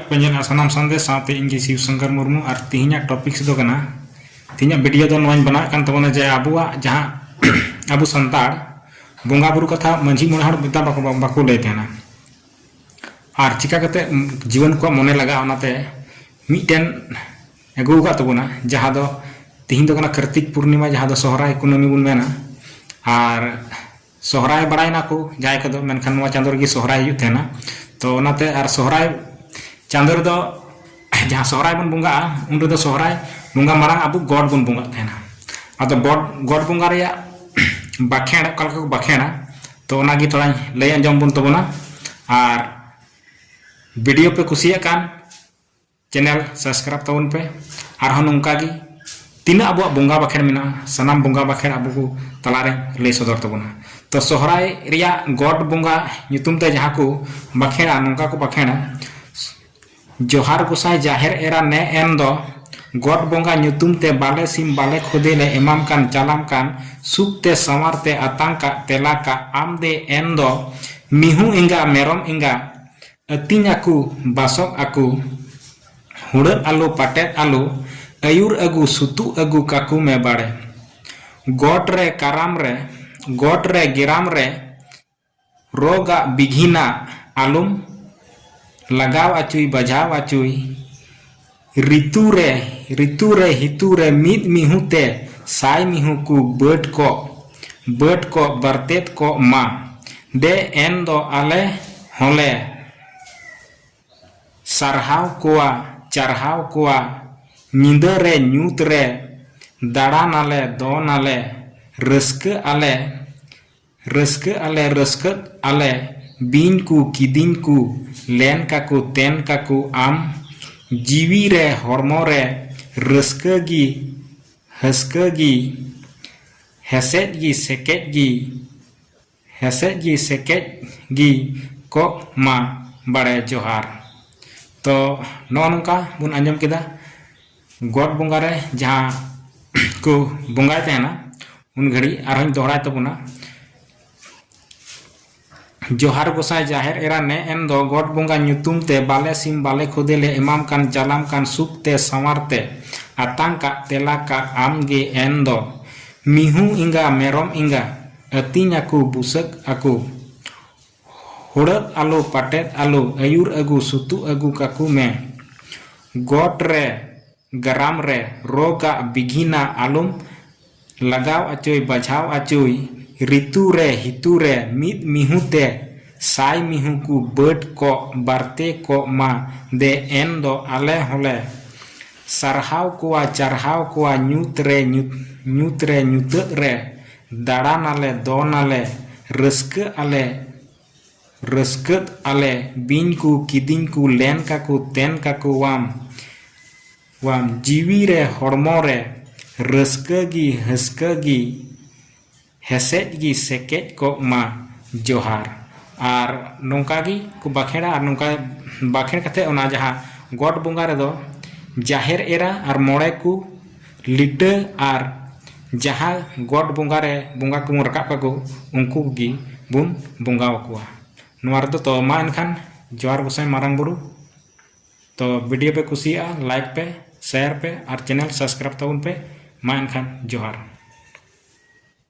ᱯᱮᱧᱡᱚᱱᱟ ᱥᱟᱱᱟᱢ ᱥᱟᱱᱫᱮᱥ ᱥᱟᱶᱛᱮ ᱤᱧ ᱜᱮ ᱥᱤᱵ ᱥᱚᱝᱠᱚᱨ ᱢᱩᱨᱢᱩ ᱟᱨ ᱛᱤᱦᱤᱧᱟᱜ ᱴᱚᱯᱤᱠᱥ ᱫᱚ ᱠᱟᱱᱟ ᱛᱤᱦᱤᱧᱟᱜ ᱵᱷᱤᱰᱤᱭᱳ ᱫᱚ ᱱᱚᱣᱟᱧ ᱵᱮᱱᱟᱣ ᱠᱟᱱ ᱛᱟᱵᱚᱱᱟ ᱡᱮ ᱟᱵᱚᱣᱟᱜ ᱡᱟᱦᱟᱸ ᱟᱵᱚ ᱥᱟᱱᱛᱟᱲ ᱵᱚᱸᱜᱟ ᱵᱩᱨᱩ ᱠᱟᱛᱷᱟ ᱢᱟᱹᱡᱷᱤ ᱢᱚᱬᱮ ᱦᱚᱲ ᱢᱮᱛᱟ ᱵᱟᱠᱚ ᱵᱟᱠᱚ ᱞᱟᱹᱭ ᱛᱟᱦᱮᱱᱟ ᱟᱨ ᱪᱤᱠᱟ ᱠᱟᱛᱮ ᱡᱤᱭᱚᱱ ᱠᱚ ᱢᱚᱱᱮ ᱞᱟᱜᱟᱜᱼᱟ ᱚᱱᱟᱛᱮ ᱢᱤᱫᱴᱮᱱ ᱟᱹᱜᱩ ᱟᱠᱟᱫ ᱛᱟᱵᱚᱱᱟ ᱡᱟᱦᱟᱸ ᱫᱚ ᱛᱤᱦᱤᱧ ᱫᱚ ᱠᱟᱱᱟ ᱠᱟᱨᱛᱤᱠ ᱯᱩᱨᱱᱤᱢᱟ ᱡᱟᱦᱟᱸ ᱫᱚ ᱥᱚᱦᱨᱟᱭ ᱠᱩᱱᱟᱹᱢᱤ ᱵᱚᱱ ᱢᱮᱱᱟ ᱟᱨ ᱥᱚᱦᱨᱟᱭ ᱵᱟᱲᱟᱭ ᱱᱟᱠᱚ ᱡᱟᱦᱟᱸᱭ ᱠᱚᱫᱚ ᱢᱮᱱᱠᱷᱟᱱ ᱱᱚᱣᱟ ᱪᱟᱸᱫᱚ ᱨᱮᱜᱮ ᱥᱚᱦᱨᱟᱭ ᱦᱩᱭᱩᱜ ᱛᱟᱦᱮᱱᱟ ᱛᱚ ᱚᱱᱟᱛᱮ ᱟᱨ ᱥᱚᱦᱨᱟᱭ ᱪᱟᱸᱫᱚ ᱨᱮᱫᱚ ᱡᱟᱦᱟᱸ ᱥᱚᱦᱨᱟᱭ ᱵᱚᱱ ᱵᱚᱸᱜᱟᱜᱼᱟ ᱩᱱ ᱨᱮᱫᱚ ᱥᱚᱦᱨᱟᱭ ᱵᱚᱸᱜᱟ ᱢᱟᱲᱟᱝ ᱟᱵᱚ ᱜᱚᱰ ᱵᱚᱱ ᱵᱚᱸᱜᱟᱜ ᱛᱟᱦᱮᱱᱟ ᱟᱫᱚ ᱜᱚᱰ ᱜᱚᱰ ᱵᱚᱸᱜᱟ ᱨᱮᱭᱟᱜ ᱵᱟᱠᱷᱮᱬ ᱚᱠᱟ ᱞᱮᱠᱟ ᱠᱚ ᱵᱟᱠᱷᱮᱬᱟ ᱛᱚ ᱚᱱᱟᱜᱮ ᱛᱷᱚᱲᱟᱧ ᱞᱟᱹᱭ ᱟᱸᱡᱚᱢ ᱵᱚᱱ ᱛᱟᱵᱚᱱᱟ ᱟᱨ ᱵᱷᱤᱰᱤᱭᱳ ᱯᱮ ᱠᱩᱥᱤᱭᱟᱜ ᱠᱟᱱ ᱪᱮᱱᱮᱞ ᱥᱟᱵᱥᱠᱨᱟᱭᱤᱵ ᱛᱟᱵᱚᱱ ᱯᱮ ᱟᱨᱦᱚᱸ ᱱᱚᱝᱠᱟ ᱜᱮ ᱛᱤᱱᱟᱹᱜ ᱟᱵᱚᱣᱟᱜ ᱵᱚᱸᱜᱟ ᱵᱟᱠᱷᱮᱲ ᱢᱮᱱᱟᱜᱼᱟ ᱥᱟᱱᱟᱢ ᱵᱚᱸᱜᱟ ᱵᱟᱠᱷᱮᱲ ᱟᱵᱚ ᱠᱚ ᱛᱟᱞᱟ ᱨᱮ ᱞᱟᱹᱭ ᱥᱚᱫᱚᱨ ᱛᱟᱵᱚᱱᱟ ᱛᱚ ᱥᱚᱦᱨᱟᱭ ᱨᱮᱭᱟᱜ ᱜᱚᱰ ᱵᱚᱸᱜᱟ ᱧᱩᱛᱩᱢ ᱛᱮ ᱡᱟᱦᱟᱸ ᱠᱚ ᱵᱟᱠᱷᱮᱲᱟ ᱱᱚᱝᱠᱟ ᱠᱚ ᱵᱟᱠᱷᱮᱲᱟ ᱡᱚᱦᱟᱨ ᱜᱚᱥᱟᱭ ᱡᱟᱦᱮᱨ ᱮᱨᱟ ᱱᱮ ᱮᱱ ᱫᱚ ᱜᱚᱰ ᱵᱚᱸᱜᱟ ᱧᱩᱛᱩᱢ ᱛᱮ ᱵᱟᱞᱮ ᱥᱤᱢ ᱵᱟᱞᱮ ᱠᱷᱚᱫᱮ ᱞᱮ ᱮᱢᱟᱢ ᱠᱟᱱ ᱪᱟᱞᱟᱢ ᱠᱟᱱ ᱥᱩᱠ ᱛᱮ ᱥᱟᱶᱟᱨ ᱛᱮ ᱟᱛᱟᱝ ᱠᱟᱜ ᱛᱮᱞᱟ ᱠᱟᱜ ᱟᱢ ᱫᱮ ᱮᱱ ᱫᱚ ᱢᱤᱦᱩ ᱮᱸᱜᱟ ᱢᱮᱨᱚᱢ ᱮᱸᱜᱟ ᱟᱹᱛᱤᱧ ᱟᱠᱚ ᱵᱟᱥᱚᱜ ᱟᱠᱚ ᱦᱩᱲᱟᱹᱜ ᱟᱞᱚ ᱯᱟᱴᱮᱫ ᱟᱞᱚ ᱟᱹᱭᱩᱨ ᱟᱹᱜᱩ ᱥᱩᱛᱩᱜ ᱟᱹᱜᱩ ᱠᱟᱠᱚ ᱢᱮ ᱵᱟᱲᱮ᱾ ᱜᱚᱴ ᱨᱮ ᱠᱟᱨᱟᱢ ᱨᱮ ᱜᱚᱴ ᱨᱮ ᱜᱮᱨᱟᱢ ᱨᱮ ᱨᱚᱜᱽ ᱟᱜ ᱵᱤᱜᱷᱤᱱ ᱟᱜ ᱟᱞᱚᱢ ᱞᱟᱜᱟᱣ ᱟᱪᱩᱭ ᱵᱟᱡᱷᱟᱣ ᱟᱪᱩᱭ᱾ ᱨᱤᱛᱩᱨᱮ ᱨᱤᱛᱩᱨᱮ ᱦᱤᱛᱩᱨᱮ ᱢᱤᱫ ᱢᱤᱦᱩ ᱛᱮ ᱥᱟᱭ ᱢᱤᱦᱩ ᱠᱚ ᱵᱟᱹᱰ ᱠᱚᱜ ᱵᱟᱹᱰ ᱠᱚᱜ ᱵᱟᱨᱛᱮᱫ ᱠᱚᱜ ᱢᱟ ᱫᱮ ᱮᱱ ᱫᱚ ᱟᱞᱮ ᱦᱚᱸᱞᱮ ᱥᱟᱨᱦᱟᱣ ᱠᱚᱣᱟ ᱪᱟᱨᱦᱟᱣ ᱠᱚᱣᱟ ᱧᱤᱫᱟᱹ ᱨᱮ ᱧᱩᱛ ᱨᱮ ᱫᱟᱬᱟᱱᱟᱞᱮ ᱫᱚᱱᱟᱞᱮ ᱨᱟᱹᱥᱠᱟᱹᱜ ᱟᱞᱮ ᱨᱟᱹᱥᱠᱟᱹᱜ ᱟᱞᱮ ᱨᱟᱹᱥᱠᱟᱹᱜ ᱟᱞᱮ ᱵᱤᱧ ᱠᱚ ᱠᱤᱫᱤᱧ ᱠᱚ ᱞᱮᱱ ᱠᱟᱠᱚ ᱛᱮᱱ ᱠᱟᱠᱚ ᱟᱢ ᱡᱤᱣᱤ ᱨᱮ ᱦᱚᱲᱢᱚ ᱨᱮ ᱨᱟᱹᱥᱠᱟᱹ ᱜᱮ ᱦᱟᱹᱥᱠᱟᱹ ᱜᱮ ᱦᱮᱥᱮᱡ ᱜᱮ ᱥᱮᱠᱮᱡ ᱜᱮ ᱦᱮᱥᱮᱡ ᱜᱮ ᱥᱮᱠᱮᱡ ᱜᱮ ᱠᱚᱜ ᱢᱟ ᱵᱟᱲᱮ ᱡᱚᱦᱟᱨ ᱛᱚ ᱱᱚᱜᱼᱚ ᱱᱚᱝᱠᱟ ᱵᱚᱱ ᱟᱸᱡᱚᱢ ᱠᱮᱫᱟ ᱜᱚᱴ ᱵᱚᱸᱜᱟ ᱨᱮ ᱡᱟᱦᱟᱸ ᱠᱚ ᱵᱚᱸᱜᱟᱭ ᱛᱟᱦᱮᱱᱟ ᱩᱱ ᱜᱷᱟᱹᱲᱤᱡ ᱟᱨᱦᱚᱸᱧ ᱫᱚᱦᱲᱟᱭ ᱛᱟᱵᱚᱱᱟ ᱡᱚᱦᱟᱨ ᱜᱚᱥᱟᱭ ᱡᱟᱦᱮᱨ ᱮᱨᱟ ᱱᱮ ᱮᱱ ᱫᱚ ᱜᱚᱴ ᱵᱚᱸᱜᱟ ᱧᱩᱛᱩᱢ ᱛᱮ ᱵᱟᱞᱮ ᱥᱤᱢ ᱵᱟᱞᱮ ᱠᱷᱚᱫᱮ ᱞᱮ ᱮᱢᱟᱢ ᱠᱟᱱ ᱪᱟᱞᱟᱢ ᱠᱟᱱ ᱥᱩᱠ ᱛᱮ ᱥᱟᱶᱟᱨ ᱛᱮ ᱟᱛᱟᱝ ᱠᱟᱜ ᱛᱮᱞᱟ ᱠᱟᱜ ᱟᱢ ᱜᱮ ᱮᱱ ᱫᱚ ᱢᱤᱦᱩ ᱮᱸᱜᱟ ᱢᱮᱨᱚᱢ ᱮᱸᱜᱟ ᱟᱹᱛᱤᱧ ᱟᱠᱚ ᱵᱩᱥᱟᱹᱜ ᱟᱠᱚ ᱦᱩᱲᱟᱹᱫ ᱟᱞᱩ ᱯᱟᱴᱮᱫ ᱟᱞᱩ ᱟᱹᱭᱩᱨ ᱟᱹᱜᱩ ᱥᱩᱛᱩᱜ ᱟᱹᱜᱩ ᱠᱟᱠᱩ ᱢᱮ ᱜᱚᱴ ᱨᱮ ᱜᱟᱨᱟᱢ ᱨᱮ ᱨᱚᱜᱽ ᱟᱜ ᱵᱤᱜᱷᱤᱱᱟ ᱟᱞᱩᱢ ᱞᱟᱜᱟᱣ ᱟᱪᱩᱭ ᱵᱟᱡᱷᱟᱣ ᱟᱪᱩᱭ ᱨᱤᱛᱩ ᱨᱮ ᱦᱤᱛᱩ ᱨᱮ ᱢᱤᱫ ᱢᱤᱦᱩ ᱛᱮ ᱥᱟᱭ ᱢᱤᱦᱩ ᱠᱩ ᱵᱟᱹᱰ ᱠᱚᱜ ᱵᱟᱨᱛᱮ ᱠᱚᱜ ᱢᱟ ᱫᱮ ᱮᱱ ᱫᱚ ᱟᱞᱮ ᱦᱚᱸᱞᱮ ᱥᱟᱨᱦᱟᱣ ᱠᱚᱣᱟ ᱪᱟᱨᱦᱟᱣ ᱠᱚᱣᱟ ᱧᱩᱛ ᱨᱮ ᱧᱩᱛ ᱧᱩᱛ ᱨᱮ ᱧᱩᱛᱟᱹᱜ ᱨᱮ ᱫᱟᱬᱟᱱ ᱟᱞᱮ ᱫᱚᱱ ᱟᱞᱮ ᱨᱟᱹᱥᱠᱟᱹᱜ ᱟᱞᱮ ᱨᱟᱹᱥᱠᱟᱹᱫ ᱟᱞᱮ ᱵᱤᱧ ᱠᱚ ᱠᱤᱫᱤᱧ ᱠᱚ ᱞᱮᱱ ᱠᱟᱠᱚ ᱛᱮᱱ ᱠᱟᱠᱚᱣᱟᱢ ᱣᱟᱢ ᱡᱤᱣᱤ ᱨᱮ ᱦᱚᱲᱢᱚ ᱨᱮ ᱨᱟᱹᱥᱠᱟᱹ ᱜᱮ ᱦᱟᱹᱥᱠᱟᱹ ᱜᱮ ᱦᱮᱥᱮᱡ ᱜᱮ ᱥᱮᱠᱮᱡ ᱠᱚᱜ ᱢᱟ ᱡᱚᱦᱟᱨ ᱟᱨ ᱱᱚᱝᱠᱟ ᱜᱮ ᱠᱚ ᱵᱟᱠᱷᱮᱲᱟ ᱟᱨ ᱱᱚᱝᱠᱟ ᱵᱟᱠᱷᱮᱲ ᱠᱟᱛᱮᱫ ᱚᱱᱟ ᱡᱟᱦᱟᱸ ᱜᱚᱴ ᱵᱚᱸᱜᱟ ᱨᱮᱫᱚ ᱡᱟᱦᱮᱨ ᱮᱨᱟ ᱟᱨ ᱢᱚᱬᱮ ᱠᱚ ᱞᱤᱴᱟᱹ ᱟᱨ ᱡᱟᱦᱟᱸ ᱜᱚᱴ ᱵᱚᱸᱜᱟ ᱨᱮ ᱵᱚᱸᱜᱟ ᱠᱚᱵᱚᱱ ᱨᱟᱠᱟᱵ ᱠᱟᱠᱚ ᱩᱱᱠᱩ ᱜᱮ ᱵᱚᱱ ᱵᱚᱸᱜᱟ ᱟᱠᱚᱣᱟ ᱱᱚᱣᱟ ᱨᱮᱫᱚ ᱛᱚ ᱢᱟ ᱮᱱᱠᱷᱟᱱ ᱡᱚᱦᱟᱨ ᱜᱚᱸᱥᱟᱭ ᱢᱟᱨᱟᱝ ᱵᱩᱨᱩ ᱛᱚ ᱵᱷᱤᱰᱤᱭᱳ ᱯᱮ ᱠᱩᱥᱤᱭᱟᱜᱼᱟ ᱞᱟᱭᱤᱠ ᱯᱮ ᱥᱮᱭᱟᱨ ᱯᱮ ᱟᱨ ᱪᱮᱱᱮᱞ ᱥᱟᱵᱥᱠᱨᱟᱭᱤᱵᱽ ᱛᱟᱵᱚᱱ ᱯᱮ ᱢᱟ ᱮᱱᱠᱷᱟᱱ ᱡᱚᱦᱟᱨ